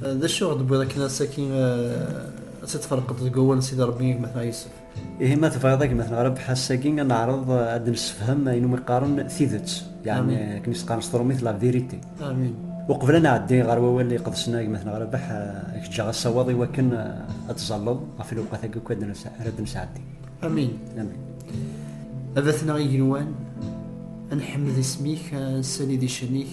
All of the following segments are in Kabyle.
D acu i ɣ-d-tewwiḍ akken ass-agi ad t-id-tferqeḍ deg wawal n Sidi Ṛebbi i gma Tɛa Yusef? Ihi ma tebɣiḍ a gma Tɛa Ṛebbi, ass-agi ad neɛreḍ ad d-nessefhem ayen umi qqaren tidet, yeɛni akken i s-qqaren s tṛumit la vérité. Amin. Uqbel ad nɛeddi ɣer wawal iqedsen a gma Tɛa Ṛebbi, ad k-ǧǧeɣ asawaḍ i wakken ad tẓalleḍ ɣef lewqat-agi akk ara d-nesɛeddi. Amin. Amin. A Batneɣ igenwan, ad nḥemmed isem-ik, ad nessali di ccan-ik.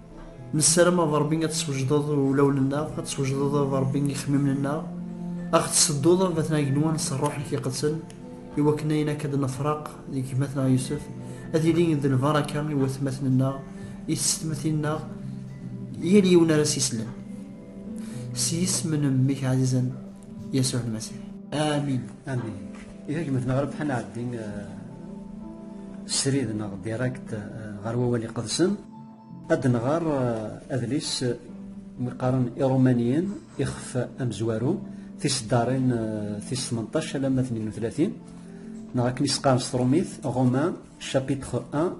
Nessaram ad Rebbi ad teswejdeḍ ulawen-nneɣ, ad teswejdeḍ ad Rebbi ixemmimen-nneɣ, ad ɣ-tessedduḍ ad baten agenwan s rruḥ-ik iqedsen, i wakken ayen akka d-nefraq deg gma-tneɣ Yusef, ad yili d lbaraka i watmaten-nneɣ, i tsetmatin-nneɣ, yal yiwen ara s-islen. S yisem n mmi-k ɛzizen, Yasuɛ Lmasiḥ. Amin. Amin. I tagmat-nneɣ ara bḥan ɛeddi srid neɣ direct ɣer wawal iqedsen. Ad nɣer eh, adlis eh, mi qqaren Irumaniyen ixef amezwaru tiseddarin eh, tis 18 alamma 32 neɣ akken i s-qqaren s trumit Romain chapitre 1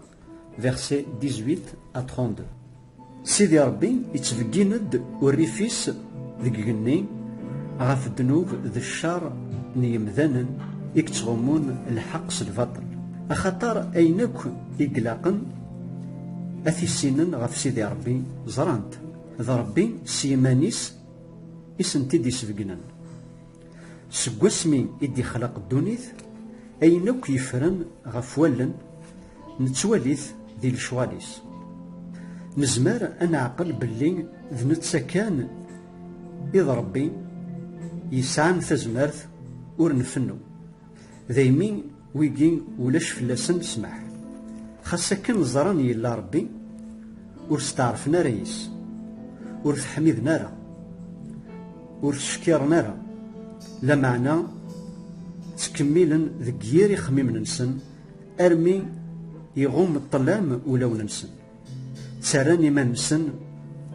verset 18 à 32 Sidi Rebbi yettbeggin-d urrif-is deg igenni ɣef ddnub d ccer n yemdanen i yettɣummun lḥeqq s lbaṭel axaṭer ayen akk i ilaqen A t-issinen ɣef Sidi Ṛebbi, ẓran-t, d Ṛebbi s yiman-is i sent-id-isbegnen. Seg wasmi i d-ixlaq ddunit, ayen akk yeffren ɣef wallen, nettwali-t di lecɣal-is. Nezmer ad neɛqel belli d netta kan i d Ṛebbi yesɛan tazmert ur nfennu, daymi, Wigi ulac fell-asen ssmaḥ. Xas akken ẓran yella Ṛebbi, ur steɛṛfen ara yes, ur t-ḥmiden ara, ur t-ckiṛen ara, lameɛna ttkemmilen deg yir ixemmimen-nsen armi iɣumm ṭṭlam ulawen-nsen. Ttarran iman-nsen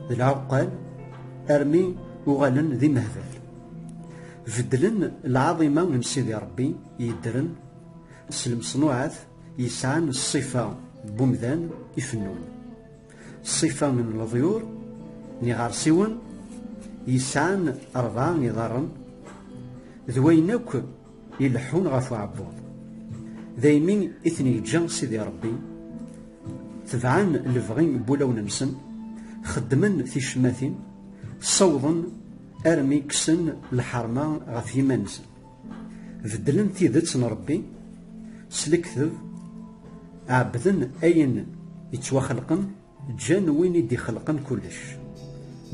d lɛuqqal armi uɣalen d imehbal. Beddlen lɛaḍima n Sidi Ṛebbi. yeddren s lemṣnuɛat yesɛan ṣṣifa n umdan ifennun. Ṣṣifa n leḍyur n iɣersiwen yesɛan rebɛa iḍarren d wayen akk ileḥḥun ɣef uɛebbuḍ. Daymi i ten-yeǧǧa Sidi Ṛebbi, tebɛen lebɣi n wulawen-nsen, xeddmen ticemmatin, ssawḍen armi kksen lḥerma ɣef yiman-nsen. Beddlen tidet n Ṛebbi s lekdeb, ɛebbden ayen ittwaxelqen, ǧǧan win i d-ixelqen kullec.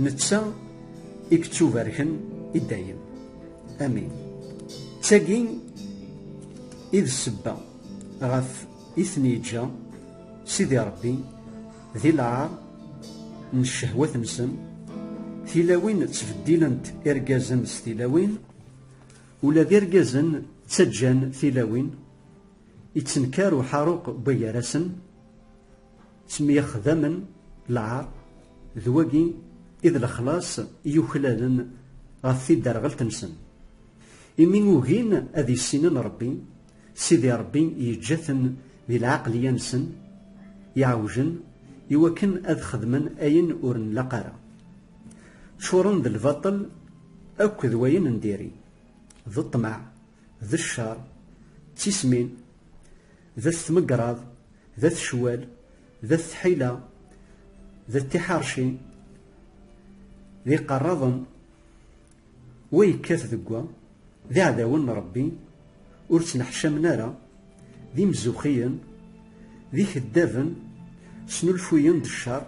Netta i yettubarken i dayem. Amin. D tagi i d ssebba ɣef i ten-yeǧǧa Sidi Ṛebbi di lɛaṛ n ccehwat-nsen, tilawin ttbeddilent irgazen s tilawin, Ula d irgazen ttaǧǧan tilawin, ittenkar uḥaruq n wagar-asen, ttemyexdamen lɛar, d wagi i d lexlaṣ i yuklalen ɣef tidderɣelt-nsen. Imi ugin ad issinen Ṛebbi, Sidi Ṛebbi yeǧǧa-ten di lɛeqliya-nsen iɛewjen i wakken ad xedmen ayen ur nlaq ara. Ččuren d lbaṭel akk d wayen n diri, d ṭṭmeɛ, d ccer, d tismin, d at tmegraḍ, d at ccwal, d at tḥila, d at tiḥerci, d iqerraḍen, Wa yekkat deg wa, d iɛdawen n Ṛebbi, ur ttneḥcamen ara, d imzuxxiyen, d ikeddaben, snulfuyen-d cceṛ,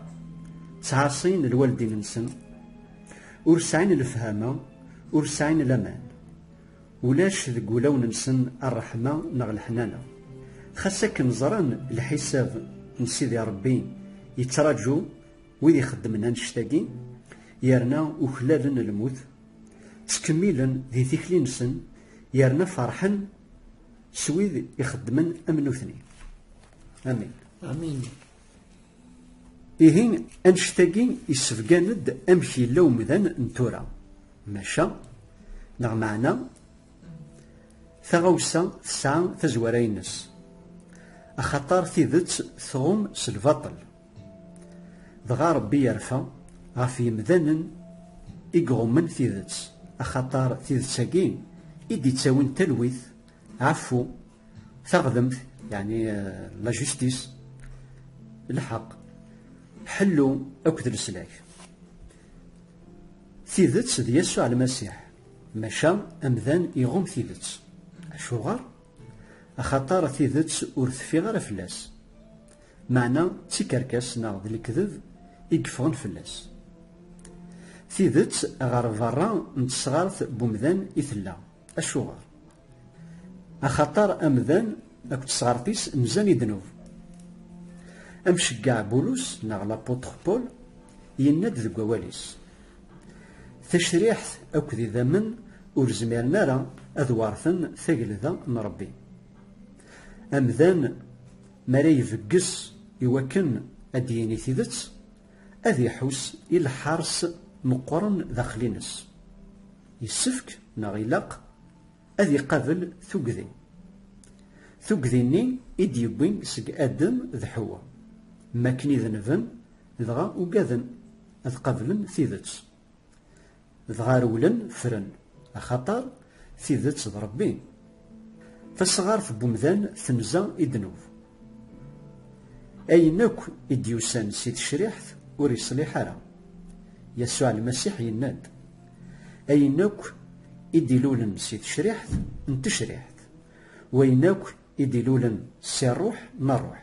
ttɛaṣin lwaldin-nsen, ur sɛin lefhama, ur sɛin laman. Ulac deg wulawen-nsen ṛṛeḥma neɣ leḥnana. Xas akken ẓran lḥisab n Sidi Ṛebbi, yettraǧu. Wid ixeddmen annect-agi yerna uklalen lmut, ttkemmilen di tikli-nsen yerna ferḥen s wid ixeddmen am nutni. Amin. Amin. Ihi annect-agi yessebgan-d amek yella umdan n tura. Maca, neɣ meɛna, taɣawsa tesɛa tazwara-ines. Axaṭer tidet tɣum s lbaṭel. Dɣa Ṛebbi irfa ɣef yemdanen i iɣummen tidet, axaṭer tidet-agi i d-ittawin talwit, ɛeffu, taɣdemt, yeɛni la justice, lḥeqq, ḥellu akked leslak. Tidet d Yasuɛ Lmasiḥ, maca amdan iɣumm tidet. Acuɣer? Axaṭer tidet ur teffi ara fell-as. Meɛna d tikerkas neɣ d lekdeb i yeffɣen fell-as. Tidet ɣer berra n tesɣart n umdan i tella. Acuɣer? Axaṭer amdan akked tesɣart-is nzan i ddnub. Amceggeɛ Bulus neɣ l'apôtre Paul yenna-d deg wawal-is, Tacriḥt akked idammen ur zmiren ara ad warten tagelda n Rebbi. Amdan mi ara ibegges i wakken ad d-yini tidet, ad iḥuss i lḥers meqqren daxel-ines. Yessefk, neɣ ilaq, ad iqabel tugdi. Tugdi-nni i d-yewwin seg Adem d Ḥewwa, mi akken i denben, dɣa ugaden ad qablen tidet. Dɣa rewlen ffren, axaṭer tidet d Ṛebbi. Tasɣart n umdan tenza i ddnub. Ayen akk i d-yusan si tecriḥt ur iṣliḥ ara. Yasuɛ Lmasiḥ yenna-d, Ayen akk i d-ilulen si tecriḥt n tecriḥt, wayen akk i d-ilulen si ṛṛuḥ n ṛṛuḥ.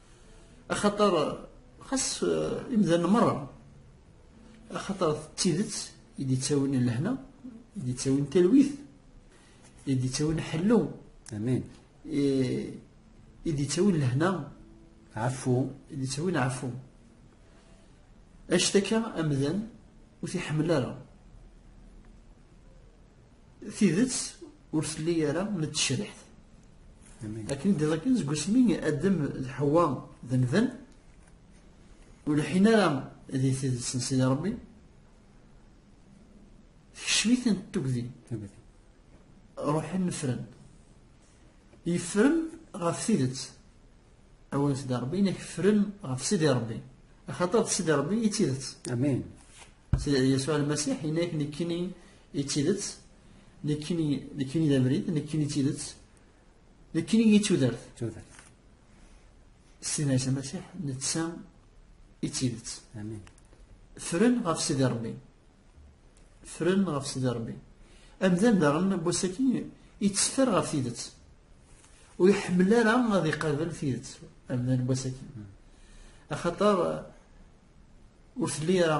axaṭer xas eh, imdanen merra axaṭer d tidet i d-ittawin lehna i d-ittawin talwit i d-ittawin ḥellu amin i d-ittawin lehna ɛfu i d-ittawin ɛfu actaka amdan ur t-iḥemmel ara Tidet ur telli ara n tecriḥt. Akken i d-iḍakken seg wasmi Adem d Ḥwa d amdan ur lḥin ara di tidet n Sidi Ṛebbi tekcem-iten tugdi ruḥen fren yefren ɣef tidet awal Sidi Ṛebbi inek fren ɣef Sidi Ṛebbi axaṭer d Sidi Ṛebbi i d tidet Amin Yasuɛ Lmasiḥ inek nekkini I tidet, nekkini, nekkini d abrid, nekkini d tidet, nekkini i tudert. Tudert. Sidi Ɛisa Masiḥ, netta i tidet. Amin. Fren ɣef Sidi Rebbi. Fren ɣef Sidi Rebbi. Amdan daɣen n wass-aki yetteffer ɣef tidet. Ur iḥemmel ara ad iqabel tidet amdan n wass-aki. Axaṭer ur telli ara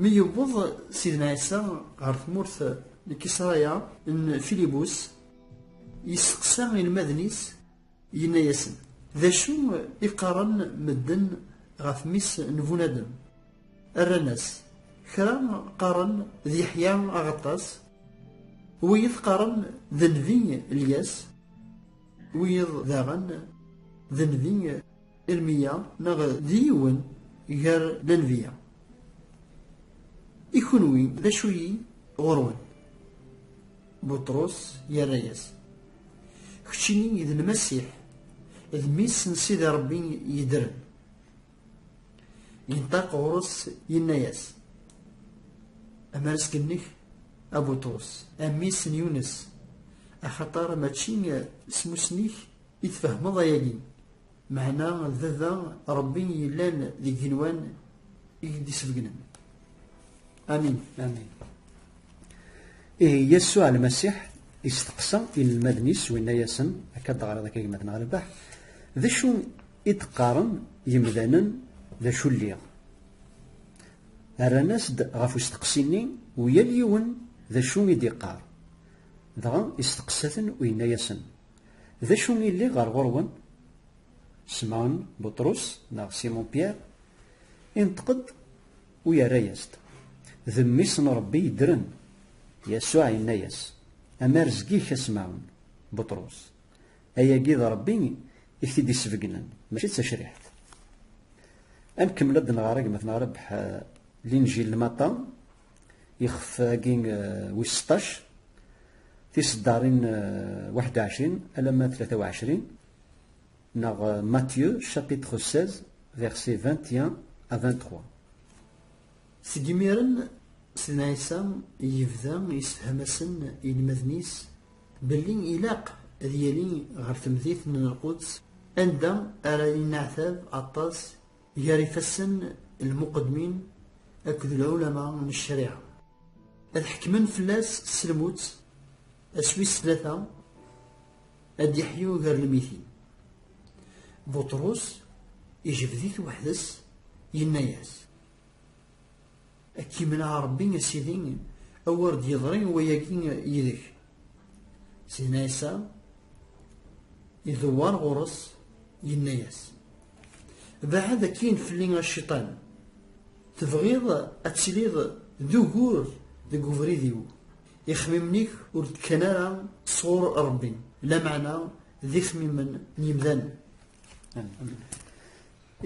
Mi yewweḍ Sidna Ɛisa ɣer tmurt n Kisraya n Filibus, yesteqsa inelmaden-is, yenna-yasen, D acu i qqaren medden ɣef mmi-s n Bunadem? Rran-as, Kra qqaren d Yeḥya Aɣeṭṭas, wiyiḍ qqaren d nnbi Lyas, wiyiḍ daɣen d nnbi Irmiya neɣ d yiwen gar lanbiya. I kunwi d acu-yi ɣur-wen? Buṭrus yerra-yas, Keččini d Lmasiḥ, d Mmi-s n Sidi Ṛebbi yeddren. Yenṭaq ɣur-s yenna-yas, Amarseg-nnek a Buṭrus, a mmi-s n Yunes, axaṭer mačči s mussni-k i tfehmeḍ ayagi, Meɛna d baba Ṛebbi yellan deg yigenwan i k-d-isbegnen. Amin. Amin. Ihi Yasuɛ Lmasiḥ isteqsa inelmaden-is u yenna-yasen, Akka ad d-teɣriḍ akka gma-tneɣ Rrbeḥ, d acu i d-qqaren yemdanen d acu lliɣ? Rran-as-d ɣef usteqsi-nni u yal yiwen d acu i d-iqqar. Dɣa isteqsa-ten u yenna-yasen, D acu i lliɣ ɣer ɣur-wen? Semɛun Buṭrus, neɣ Simon Pierre, inṭeq-d u yerra-yas-d, D Mmi-s n Ṛebbi yeddren! Yasuɛ yenna-yas, Amar zgig-k a Semɛun Buṭrus! Ayagi d Ṛebbi i k-t-id-isbegnen, mačči d tacriḥt. Ad nkemmel ad d-nɣer agmat n Ṛebḥ, Linǧil n Matta. ixef-agi wis seṭṭac tiseddarin waḥed u ɛecrin alamma tlata u ɛecrin neɣ Matthieu chapitre 16 verset 21 à 23 seg imiren Sidna Ɛisa yebda yessefham-asen inelmaden-is belli ilaq ad yali ɣer temdit n Lquds anda ara yenneɛtab aṭas gar ifassen lmuqedmin akked lɛulama n ccariɛa ad ḥekmen fell-as s lmut aswi s tlata ad d-yeḥyu gar lmitin buṭrus ijbed-it weḥd-s yenna-yas Ad k-imneɛ Ṛebbi a Sidi, a wer d-yeḍri wayagi yid-k. Sidna Ɛisa idewwer ɣur-s, yenna-yas, Beɛɛed akkin fell-i a Cciṭan, tebɣiḍ ad tiliḍ d ugur deg ubrid-iw, ixemmimen-ik ur d-kkan ara sɣur Ṛebbi, lameɛna d ixemmimen n yemdanen.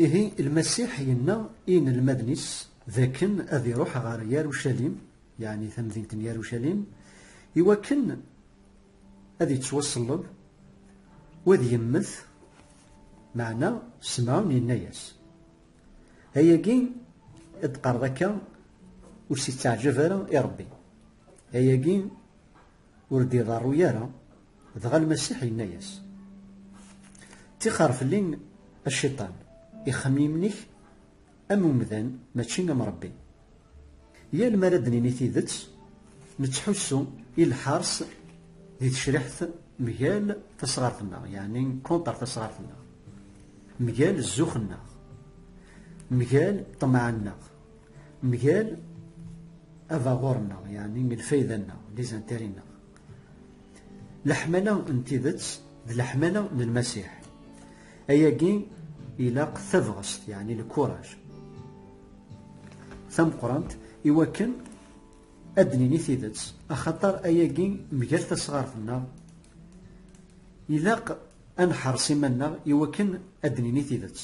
Ihi Lmasiḥ yenna i inelmaden-is d akken ad iruḥ ɣer Yarucalim, yeɛni tamdint n Yarucalim, i wakken ad yettwaṣelleb u ad yemmet, meɛna Semɛun yenna-yas, Ayagi i d-teqqareḍ akka ur s-itteɛjab ara i Ṛebbi, ayagi Ur d-iḍerru ara, dɣa Lmasiḥ yenna-yas, Ttixer fell-i a Cciṭan, ixemmimen-ik am umdan mačči am Ṛebbi. Yal mi ara d-nini tidet, nettḥussu i lḥers di tecriḥt mgal tasɣart-nneɣ, yeɛni contre tasɣart-nneɣ, mgal zzux-nneɣ, mgal ṭṭmeɛ-nneɣ, Mgal abaɣur-nneɣ, yeɛni lfayda-nneɣ, lizantari-nneɣ. Leḥmala n tidet d leḥmala n Lmasiḥ. Ayagi ilaq tabɣest, yeɛni lkuraj, tameqqrant i wakken ad d-nini tidet, axaṭer ayagi mgal tasɣart-nneɣ ilaq ad neḥres iman-nneɣ i wakken ad d-nini tidet.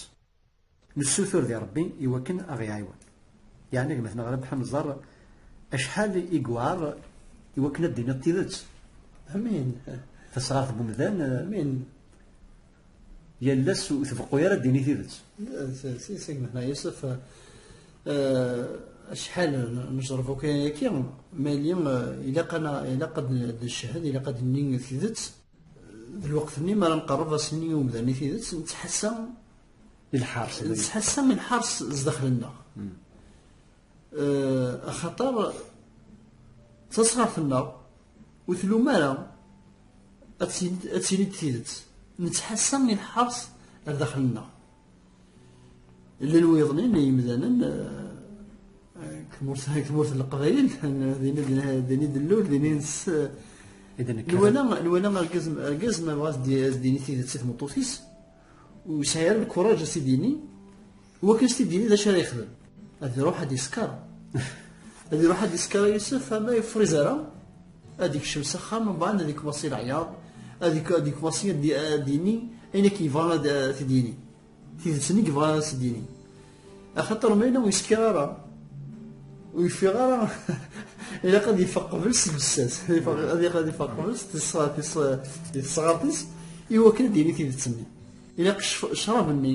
Nessutur di Rebbi i wakken a ɣ-iɛiwen. Yeɛni gma-tneɣ Rabeḥ ad nẓer acḥal i yewɛer i wakken ad d-tiniḍ tidet. Amin. Tasɣart n umdan. Amin. Yal ass ur tbeqqu ara ad d-tini tidet. Sisi gma-tneɣ Yusef, acḥal nejrebu kan ayaki, ma yili ilaq ad d-ncehhed, ilaq ad d-nini tidet. d lweqt-nni mi ara nqerreb ass-nni i umdan i tidet nettḥassa i lḥars nettḥassa i lḥars zdaxel-nneɣ hmm. eh, axaṭer tasɣart-nneɣ ur tlum ara ad tili-d tidet nettḥassa i lḥars ar daxel-nneɣ Llan wiḍen n yimdanen tmurt n leqbayel din i d-nlul din i ns nwala nwala argaz argaz ma bɣa as-d-yini tidet i tmeṭṭut-is ur yesɛi ara lkuraǧ as-t-id-yini wakken as-t-id-yini d acu ara yexdem ad iruḥ ad isker ad iruḥ ad isker a Yusef ama yefriz ara ad ikcem s axxam mbaɛd ad ikwaṣi leɛyaḍ ad ikwaṣi ad yini ayen akken yebɣa ad t-id-yini tidet-nni yebɣa ad t-id-yini axaṭer ma yella ur yesker ara ur yeffiɣ ara ilaq ad yeffeɣ qbel s lbessas ad yaq ad yeffeɣ qbel s tesɣart-is iwakken ad d-yini tidet-nni ilaq ccrab-nni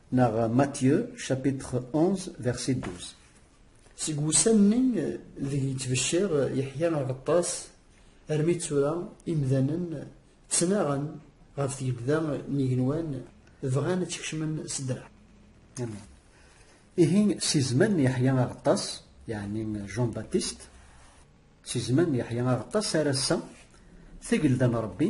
Neɣ Matthieu, chapitre 11, verset 12. Seg wussan-nni deg yettbecciṛ Yeḥya Aɣeṭṭas armi d tura, imdanen ttnaɣen ɣef tgelda n yigenwan, bɣan ad tt-kecmen s ddreɛ. Amen. Ihi si zzman n Yeḥya Aɣeṭṭas, yeɛni Jean Baptiste, si zzman n Yeḥya Aɣeṭṭas ar ass-a, tagelda n Ṛebbi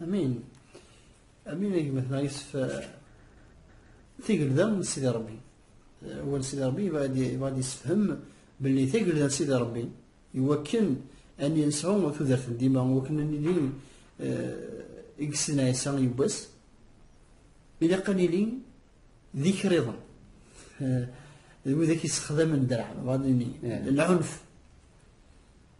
Amin. Amin ay gma-tneɣ yusef eh, tigelda n sidi rebbi eh, wal sidi rebbi yebɣa ad yessefhem belli tigelda n sidi rebbi iwakken an yensɛu tudert n dima iwakken an nili eh, i yessen ɛisa yiwwas ilaq an nili d ikriḍen d widak yessexdamen ddreɛ bɣa ad nini lɛunf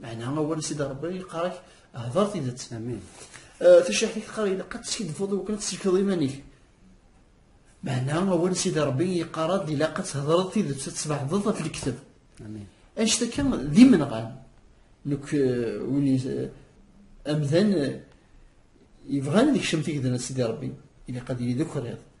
Meɛna awal i s-id Rebbi yeqqar-ak hder tidet. Amin. Taciḥt-ik teqqar ilaq ad teskiddbeḍ i wakken ad tsellkeḍ iman-ik. Meɛna awal i s-id Rebbi yeqqar-ad ilaq ad thedreḍ tidet, ad tesbeɛdeḍ ɣef lekteb. Amin. Anect akka d imenɣan. Nekk win amdan yebɣan ad ikcem tigedna n Sidi Rebbi ilaq ad yili d ukriḍ.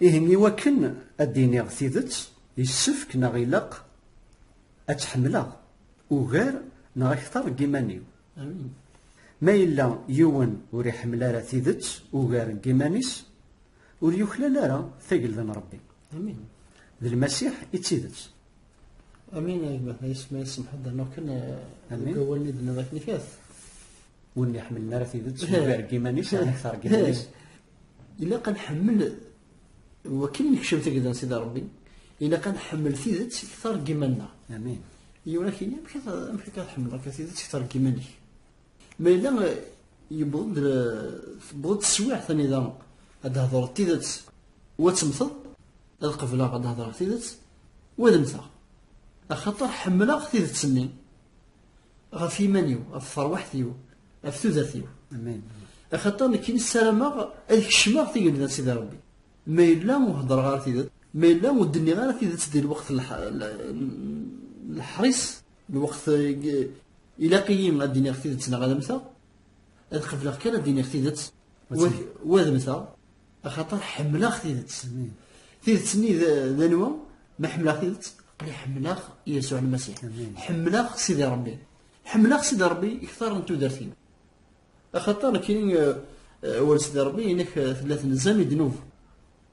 Ihi i wakken ad d-iniɣ tidet, yessefk neɣ ilaq ad tt-ḥemmleɣ ugar neɣ akteṛ n yiman-iw. Ma yella yiwen ur iḥemmel ara tidet ugar n yiman-is, ur yuklal ara tagelda n Ṛebbi. D Lmasiḥ i d tidet. Amin a gma, ay isem ay isemḥ ad d-rnuɣ kan deg wawalen i d-tenniḍ akken ikat. Ur nniḥemmlen ara tidet ugar n yiman-is neɣ akteṛ n yiman-is. ilaq ad nḥemmel wakken nekcem tagda n Sidi Ṛebbi ilaq ad nḥemmel tidet ktar n yiman-nneɣ. Amin. Yura kini amek amek akka tḥemmleḍ akka tidet ktar n yiman-ik. Ma yella yewweḍ-d tewweḍ-d teswiɛt anida ad d-hedreḍ tidet wa temmteḍ ad qebleɣ ad d-hedreɣ tidet wa ad mmteɣ. Axaṭer ḥemmleɣ tidet-nni. ɣef yiman-iw ɣef terwaḥt-iw ɣef tudert-iw axaṭer nekk nessarameɣ ad kecmeɣ tigelda n Sidi Rebbi ma yella ur heddreɣ ara tidet ma yella ur d-nniɣ ara tidet di lweqt leḥris lweqt ilaq-iyi ad d-iniɣ tidet neɣ ad mmteɣ ad qebleɣ kan ad d-iniɣ tidet wademteɣ axaṭer ḥemmleɣ tidet tidet-nni d anwa ma ḥemmleɣ tidet qli ḥemmleɣ Yasuɛ Lmasiḥ ḥemmleɣ Sidi Ṛebbi ḥemmleɣ Sidi Ṛebbi iktar n tudert-iw axaṭer nekkini awal Sidi Ṛebbi inek tella tenzam i ddnub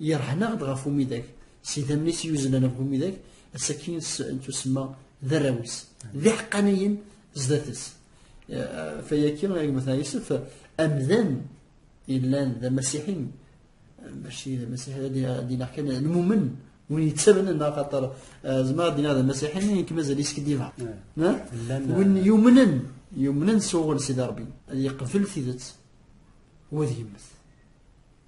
Yerḥen-aɣ-d ɣef umidag, s idammen-is yuzlen ɣef umidag, asakin tusemma d arraw-is, d iḥeqqaniyen zdat-s. Fayaki, agmat Yusef, amdan yellan d amasiḥi, maci d amasiḥi ad d-inaɣ kan lmumen, win yettamnen neɣ xaṭer zmer ad d-inaɣ d amasiḥi, mi nekk mazal iskediba. Win yumnen, yumnen s uɣel Sidi Rebbi, ad yeqbel tidet, wa ad yemmet.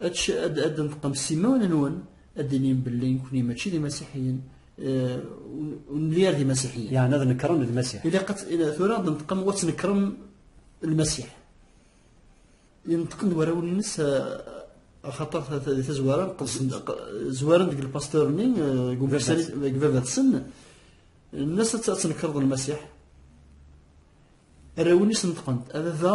ad d-neṭqem s imawen-nwen ad d-inim belli nekkni mačči d imasiḥiyen eh, ur nelli ara d imasiḥiyen. Yeɛni ad nekren lmasiḥ. Ilaq tura ad neṭqem wa ttnekrem lmasiḥ. Yenṭqen warraw-nnes eh, axaṭer di tazwara zwaren deg lpastur-nni deg eh, baba-tsen nnas ad tnekreḍ lmasiḥ. Arraw-nnes neṭqen-d ababa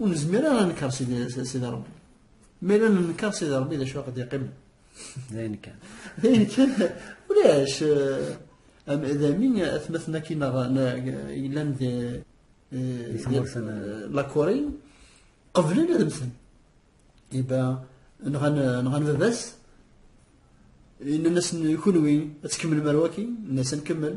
ur nezmir ara ad nekkeṛ Sidi Ṛebbi. Ma yella nenkeṛ Sidi Ṛebbi d acu aqd yeqqimen. D ayen kan. D ayen kan ulac d amin atmaten akkin yellan di lakuri qeblen ad mmten. Iba nɣan nɣan baba-s yenna-asen kunwi ad tkemmlem ar waki, nna-asen kemmel.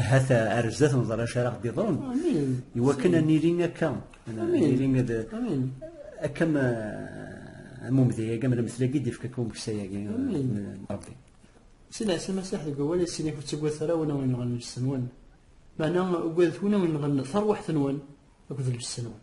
ahat ar zdat neẓra acu ara ɣ-d-iḍrun iwakken ad nili akka nili ad akka ma am umdi-agi am lemtel-agi d-ifka akka umeksa-agi Rebbi si leɛsa masaḥ deg awal asin ak ur ttagadet ara win awen yenɣen lbes-nwen meɛna ugadet win awen yenɣen tarwiḥt-nwen akked lbes-nwen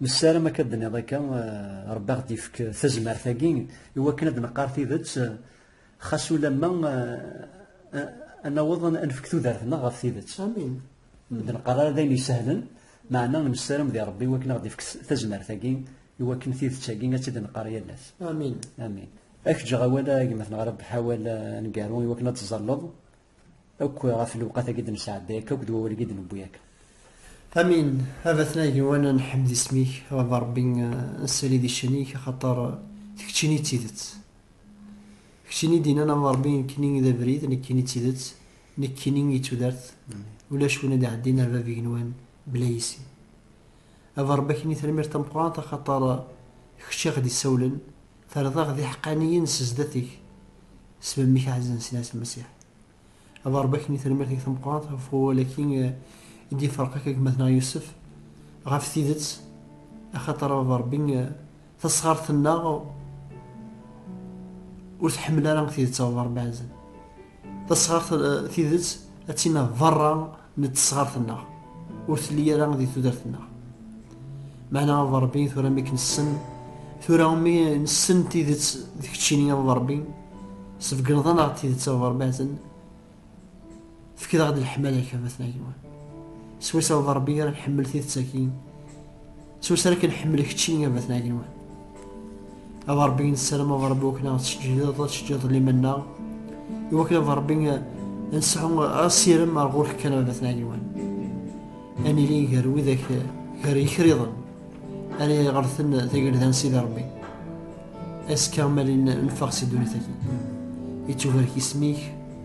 Nessaram akka ad d-nniḍ akka, eh, Rebbi aɣ-d-ifk tazmert-agi i wakken ad d-neqqar tidet, eh, xas ulamma eh, ad naweḍ ad nefk tudert-nneɣ ɣef tidet. Amin. Ur d-neqqar ara d ayen isehlen, meɛna nessaram di Rebbi i wakken ad aɣ-d-ifk tazmert-agi i wakken tidet-agi ad tt-id-neqqar yal ass. Amin. Amin. Ak ǧǧeɣ awal a gma-tneɣ Rebbeḥ awal aneggaru i wakken ad teẓẓalleḍ Akk ɣef lewqat-agi d-nesɛedday akka akked wawal agi d-newwi akka. Amin, a batna igiwanen nḥemmed isem-ik, a baba Rebbi nessali di ccan-ik axaṭer d keččini i d tidet. Keččini i d-innan a baba Rebbi nekkini i d abrid, nekkini i d tidet, nekkini i d tudert, ulac win ad iɛeddin ar bab igenwan bla yis-i. A baba Rebbi akini tanemmirt tameqqrant axaṭer d kečč i ɣ-d-isawlen Terḍaɣ d iḥeqqaniyen s zdat-ik, s memmi-k ɛzizen Sidi Ɛisa Masiḥ. A Berreb akken i termirt-ik tameqqrant ɣef wawal-agi i d-iferq akka deg gma-tneɣ Yusef, ɣef tidet, axaṭer a Baba Rebbi, tasɣart-nneɣ ur tḥemmel ara tidet a Baba Rebbi ɛzizen. Tasɣart eh, tidet ad tina berra n tesɣart-nneɣ, ur telli ara di tudert-nneɣ. Meɛna a Ṛebbi tura mi k-nessen, tura mi nessen tidet d keččini a Ṛebbi, sbegneḍ-aneɣ tidet a Ṛebbi aten, fkeḍ-aɣ-d leḥmala-k a Batna Yiwan. Swayes a Ṛebbi ara nḥemmel tidet-agi, Ttwasra kan ḥemmel kečči a Batna Agenwan. A Rebbi nessaram a Rebbi wakken ad teǧǧiḍ ad teǧǧiḍ liman-nneɣ i wakken a Rebbi nseɛu asirem ar ɣur-k kan a Batna Agenwan. Ad nili gar widak gar yikriḍen ara iɣerten tagelda n Sidi Rebbi. Azekka ma neffeɣ si ddunit-agi. Ittubarek isem-ik